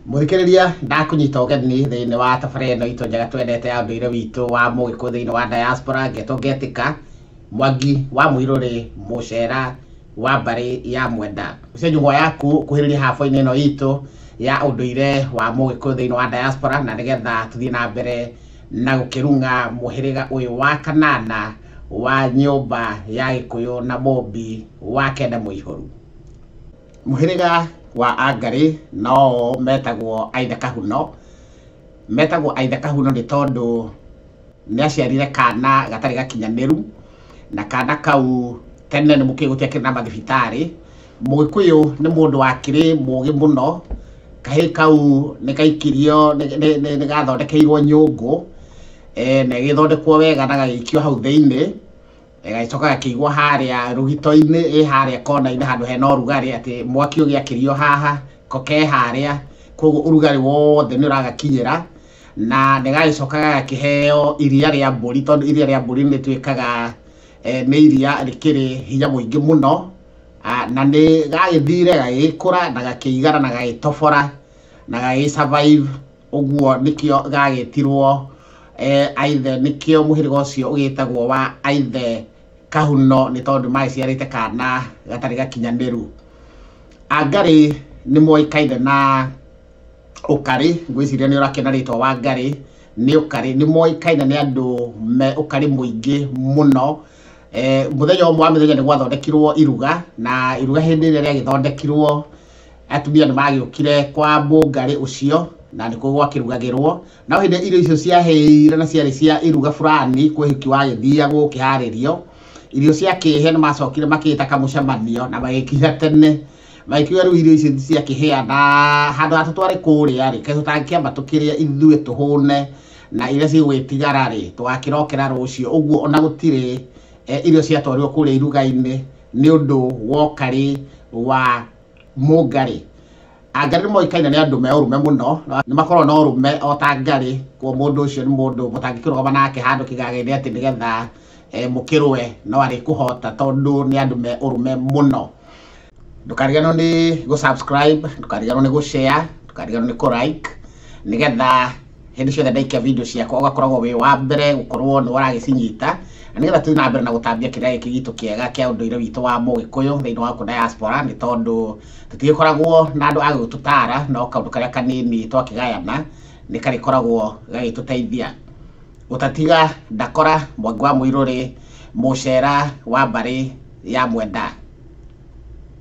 mũthikĩrĩria ndakũnyita ũgeni thĩinĩ wa tabara ĩno itũ njega twendete ya ũndũire witũ wa mũgĩkũ thĩinĩ wa diaspora ngetwo ngetĩka mwangi wa mũirũrĩ mũcera wa mbarĩ ya mwenda ũcio njũgwa yaku kuhĩrĩria haboinĩ ĩno itũ ya ũndũire wa mũgĩkũ thĩinĩ wa diaspora na nĩgetha tũthiĩ na mbere na gũkĩrung'a mũhĩrĩga ũyũ wa kanana wa nyũmba ya gĩkũyũ na mũmbi wa kenda mũihũru Mũhĩrĩga wa Angarĩ no metagwo Aithe Kahuno. Metagwo Aithe Kahuno nĩ tondũ nĩ aciarire kana gatarĩ gakinyanĩru, na kana kau tene nĩ mũkĩũĩ gũtiakĩrĩ na mathibitarĩ. Mũgĩkũyũ nĩ mũndũ wakĩrĩ mũgĩ mũno, kahĩĩ kau nĩ gaikirio, nĩ gathondekeirwo nyũngũ, na ĩgĩthondekwo wega na gagĩikio hau thĩiniĩ, ĩgagĩcoka gakĩigwo harĩa rũgito-inĩ ĩ harĩa kona-inĩ handũ hena ũrugarĩ atĩ mwaki ũgĩakĩrio haha ko ke harĩa koguo ũrugarĩ wothe nĩ ũragakinyĩra na nĩ gagĩcoka gagakĩheo iria rĩa mbũri tondũ iria rĩa mbũri nĩ tuĩkaga eh, nĩ iria rĩkĩrĩ hinya mũingĩ mũno Ah, na nĩ gagĩthire gagĩkũra na gakĩigana na gagĩtobora na gagĩ survive Ũguo nĩkĩo gagĩtirwo eh, aithe nĩkĩo mũhĩrĩga ũcio ũgĩtagwo wa aithe kahuno nĩ tondũ magĩciarĩte kana gatarĩ gakinyanĩru angarĩ nĩ moĩkaine na ũkarĩ ngwĩciria nĩ ũrakĩona rĩtwa wa ngarĩ nĩ ũkarĩ nĩ moĩkaine nĩ andũ me ũkarĩ mũingĩ mũno eh, mũthenya ũmwe wa mĩthenya nĩ gwathondekirwo iruga na iruga hĩndĩ ĩrĩa rĩagĩthondekirwo atumia nĩ magĩũkire kwa mũngarĩ ũcio na nĩkuo gwakĩrugagĩrwo no hĩndĩ irio icio ciahĩire na ciarĩ cia iruga fulani kwĩ hiki wagĩthiagwo ũkĩharĩrio irio ciakĩhe nĩ macokire makĩta kamũcemanio na magĩkinya tene magĩkiuga rĩu irio icio ciakĩhĩa na handũ ha tũtware kũrĩa rĩ kaĩ tũtangĩkĩamba tũkĩrĩa ithuĩ tũhũne na iria cigũgĩtigara rĩ tũgakĩrokera rũciũ ũguo ona gũtirĩ eh, irio ciatwarirwo kũrĩa iruga-inĩ nĩ ũndũ wa ũkarĩ wa mũngarĩ. Angarĩ nĩmoĩkaine nĩ andũ me ũrũme mũno, nĩmakoragwo na ũrũme o ta ngarĩ, kuoguo mũndũ ũcio nĩ mũndũ mũtangĩkĩrũgama nake handũ kĩgagainĩ atĩ nĩgetha mũkĩrũe no arĩkũhota tondũ nĩ andũ me ũrũme mũno. Ndũkariganĩrwo nĩ gũ subscribe, ndũkariganĩrwo nĩ gũ share, ndũkariganĩrwo nĩ kũ like nĩgetha... hĩndĩ ciothe ndaikia video ciakwa ũgakoragwo wĩ wa mbere gũkorwo nĩ ũragĩcinyita na nĩgetha tũthiĩ na mbere na gũtambia kĩrĩa gĩkĩ gitũ kĩega kĩa ũndũire witũ wa mũgĩkũyũ thĩinĩ wa diaspora nĩ tondũ tũtigĩkoragwo na andũ agũtũtara no kaũndũ karĩa kanini twakĩgayana nĩ karĩkoragwo gagĩtũteithia gũtatiga ndakora mwangi wa mũirũrĩ mũcera wa mbarĩ ya mwenda